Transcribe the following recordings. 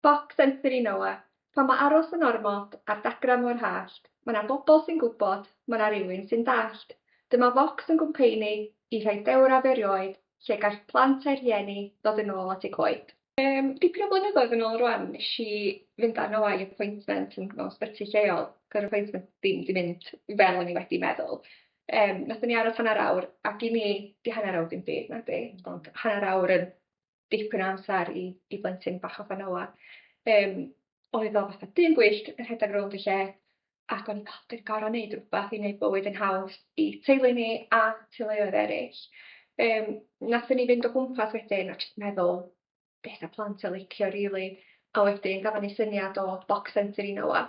Boc Sensory Noa, Pan ma aros yn ormod ar dagrau mor hallt, ma na bobl sy'n gwybod, ma na rywun sy'n dallt. Dyma Fox yn gwmpeini i rhai dewraf erioed lle gall plant a'u rhieni ddod yn ôl at eu coed. Yym, dipyn o flynyddoedd yn ôl rwan nes i fynd â Noa i appointment yn mewn sbyty lleol, gy'r appointment ddim 'di mynd fel o'n i wedi meddwl. Yym, nathon ni aros hanner awr, ac i mi, 'di hanner awr ddim byd, nadi? Ond hanner awr yn dipyn o amser i, i blentyn bach o Fanoa. Um, oedd o fatha dyn gwyllt yn rhedeg rownd y lle, ac o'n i'n cael dyn gorau wneud rhywbeth i wneud bywyd yn haws i teulu ni a teuluoedd eraill. Um, Nathon ni fynd o gwmpas wedyn a jyst meddwl beth a plant a licio rili. Really. A wedyn gafon ni syniad o Box Centre i Noa.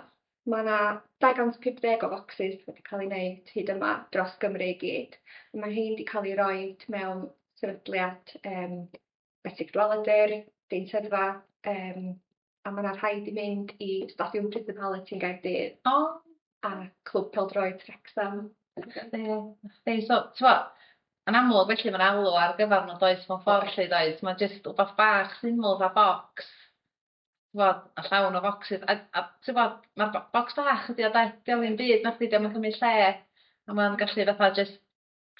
Mae yna 250 o focsys wedi cael ei wneud hyd yma dros Gymru i gyd. Mae rhein wedi cael eu rhoi mewn sefydliad um, Betrig Dweladur, Deintyddfa, um, a mae yna rhai wedi mynd i Stadiwm Prison Hallet yn Gaerdydd. O! A Clwb Peldroed Trexham. Ie, so, twa, yn amlwg felly mae'n alw ar gyfer nhw'n does mewn ffordd lle does, mae'n jyst wbath bach syml fa bocs t'wod a llawn o focsys a a t'wod ma'r bo- bocs bach ydi o 'de? 'Di o'm ddim byd nacdi 'di o'm yn cymryd lle a ma'n gallu fatha jyst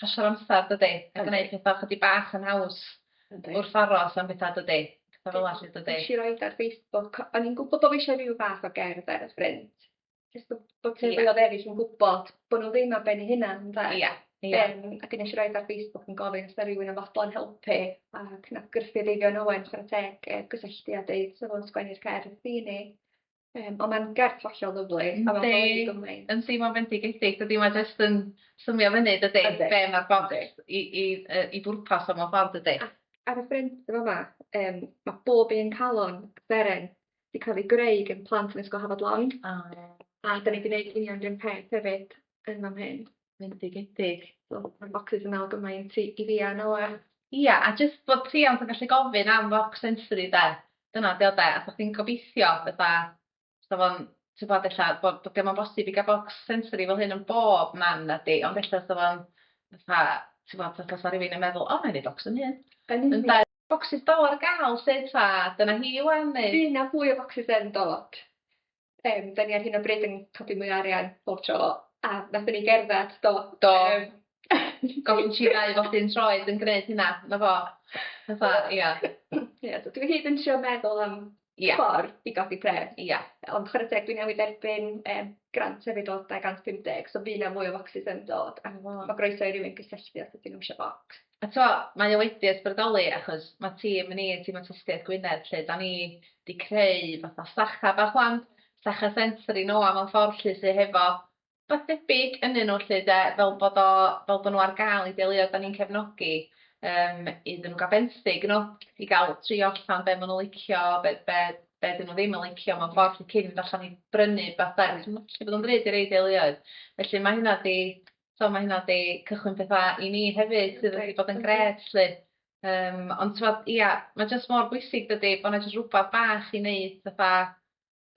pasio'r amsar dydi? A gneud petha chydig bach yn haws. Yndi. Wrth aros am betha dydi? Petha fel 'a 'lly dydi? Nesh i roid ar Facebook o'n i'n gwbo bo' fi isio ryw fath o gerdd ar y ffrynt jyst bo' bo' teuluodd eryll yn gwbod bo' n'w ddim ar ben 'u hunan ynde? Ia ia. Yym a gnesh i roid ar Facebook yn gofyn os 'na rywun yn fodlon helpu ac nath grwpia' Eifion Owen chwara teg yy gysylltu a deud sa fo'n sgwennu'r cerdd i ni yym on' ma'n gerdd hollol lyfli a ma'n golygu gymaint. Yndi yn teimlo'n fendigedig dydi mae jyst yn swnio fyny dydi? Yndi. Be' ma'r bont i i yy i bwrpas o mewn ffordd dydi? Ac ar y ffrynt yn fa' 'ma yym ma' bob un calon seren 'di cael ei greu gan plant yn Ysgol Hafod Lawn. O ie. A 'dan ni 'di neud union 'r un peth hefyd yn fan hyn. Bendigedig. So ma'r bocsys yn me'wl gymaint i i fi a Noa. Ia a jyst bod rhiant yn gallu gofyn am focs sensory 'de? Dyna 'di o 'de? A bo' chdi'n gobeithio fatha sa fo'n t'bod ella bo' bo' 'di o'm yn bosib i ga'l bocs sensory fel hyn yn bob man nadi ond ella sa fo'n fatha t'bod fatha sa rywun yn meddwl o 'nai neud bocs fy hun. Yn union. Ynde? Bocsys Dolo ar gael 'lly ta dyna hi 'wan neu? Fydd 'na fwy o focsys yn dod. Yym 'dan ni ar hyn o bryd yn codi mwy o arian pob tro a nathon ni gerddad do? Do. Yym. Gofyn tri neu bob dim tro oedd yn gneud hynna 'na fo. Fatha ia. Ia dw i hyd yn trio meddwl am Ie. ffordd i godi pres. Ie. Ond chware teg dwi newydd dderbyn yym grant hefyd o 250 so by' 'na mwy o focsys yn dod a ma' ma' groeso i rywun gysylltu os ydyn n'w isio bocs. A t'mo' mae o wedi ysbrydoli achos ma' tîm ni tîm awtistiaeth Gwynedd 'lly 'dan ni 'di creu fatha sacha bach ŵan sacha sensory nôa mewn ffordd 'lly sy hefo Wbath debyg ynnyn nhw 'lly de, fel bod o, fel bod nhw ar gael i deuluoedd 'dan ni'n cefnogi, yym, iddyn nhw gael benthyg nhw, i gael trio allan be' ma' nhw'n licio, be' be' be' 'dyn nhw ddim yn licio mewn ffordd 'lly cyn mynd allan i brynu rwbath de, achos ma'n gallu bod yn ddrud i rei deuluoedd. Felly ma' hynna 'di, t'mo' ma' hynna 'di cychwyn petha i ni hefyd sydd wedi bod yn grêt 'lly. Yym, ond t'mod, ia, ma' jyst mor bwysig dydi, bo' 'na jyst rwbath bach i neud fatha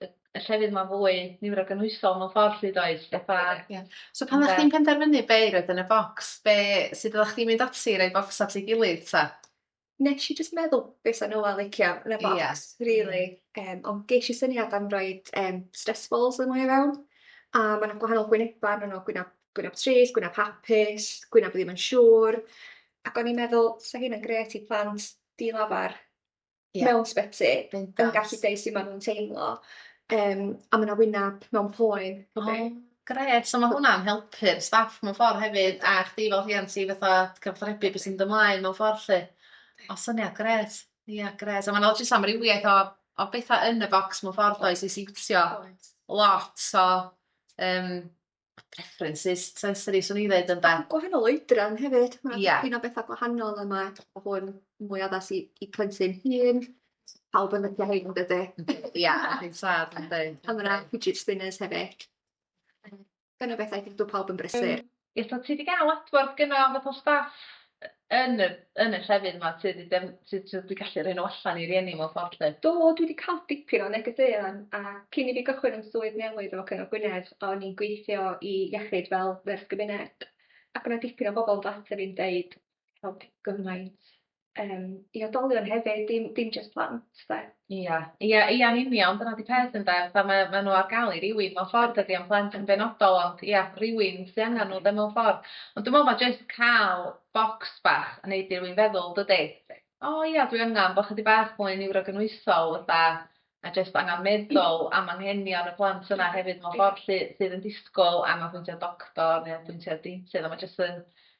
y y llefydd 'ma fwy niwrogynhwysol mewn ffordd 'lly does fatha... Ie. So pan o'ch chdi'n penderfynu be' i roid yn y bocs be' sud oddach chdi'n mynd ati i roi bocs at ei gilydd 'ta? Nesh i jyst meddwl be' 'sa Noel licio yn y bocs rili yym ond gesh i syniad am roid yym stress balls yno i fewn a ma' 'na gwahanol gwyneba arnyn n'w gwynab gwynab trist gwynab hapus gwynab ddim yn siŵr ac o'n i'n meddwl 'sa hynna'n grêt i plant di-lafar. yeah. mewn sbyty yn gallu deud sut maen nhw'n teimlo um, a mae yna wyneb mewn poen. Oh, gret, so mae hwnna'n helpu'r staff mewn ffordd hefyd a chdi fel rhian ti fatha cyfathrebu beth sy'n dymlaen mewn ffordd lle. O syniad gret, ia yeah, gret. A mae'n lot jyst amrywiaeth o, o bethau yn y bocs mewn ffordd oes i siwtio lot o um, preferences sensory, swn i ddweud ynda. Mae'n gwahanol oedran hefyd. Mae'n yeah. dipyn o bethau gwahanol a mae hwn mwy addas i, i plentyn hun. Pawb yn lydio hyn, yn dydy. Ia, yn sad, yn dweud. A mae'n fidget spinners hefyd. Gan o bethau dwi'n dweud pawb yn brysur. Ie, so ti wedi cael adborth gynnaf o staff yn y yn y llefydd 'ma sy 'di defn- sy t'o' dwi gallu rhoi n'w allan i rieni mewn ffordd 'lly. Do dwi 'di ca'l dipyn o negeseuon a cyn i fi gychwyn 'yn swydd newydd efo Cyngor Gwynedd o'n i'n gweithio i iechyd fel nyrs gymuned ac o' 'na dipyn o bobol yn dod ata fi'n deud helpu gymaint yym i oedolion hefyd dim dim jyst plant 'de. Ia, ia, ia yn union, dyna 'di peth ynde, fatha mae ma' nhw ar gael i rywun mewn ffordd dydi, ond plant yn benodol ond ia, rywun sy angen nhw 'de mewn ffordd. Ond dwi'n meddwl ma' jyst cael bocs bach yn neud i rywun feddwl dydi? O ia dwi angen bo' chydig bach mwy niwrogynhwysol fatha a jyst angan meddwl am anghenion y plant yna hefyd mewn ffordd 'lly sydd yn disgwyl angan apwyntiad doctor neu apwyntiad deintydd a ma' jyst yn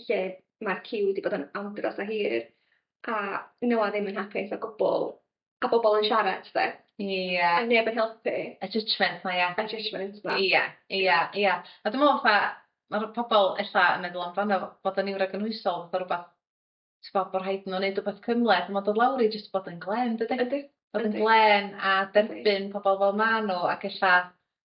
lle mae'r ciw wedi bod yn andros o hir a nhw a ddim yn hapus o gwbl a bobl yn siarad 'de? Ie. A neb yn helpu. Y judgement 'ma ia? Y judgement 'ma. Ia ia ia a dwi me'wl fatha ma'r pobol ella yn meddwl amdano bod yn niwrogynhwysol fatha rwbath t'bo' bo' rhaid n'w neud wbath cymhleth on' ma' dod lawr i jyst bod yn glên dydi? Yndi. Bod yn glên a derbyn pobol fel ma' n'w ac ella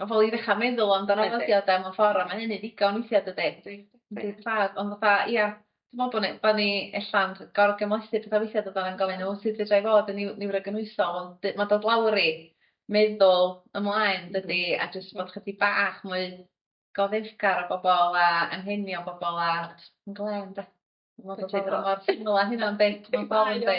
Ma' pobol i ddechra meddwl amdano fo ydi o 'de mewn ffor a ma' hynny'n ddigon weithia' dydi? Yndi yndi. Yndi tad ond fatha ia dwi me'wl bo' ni bo' ni ella'n gor'o' gymhlethu petha weithia' dydan yn gofyn o sud fedrai fod yn niw- niwrogynhwysol ond dy- ma' dod lawr i meddwl ymlaen dydi a jyst bod chydig bach mwy goddefgar o bobol a anghenion bobol a js yn glên 'de? mor syml â hynna yndi? Mewn ffor yndi?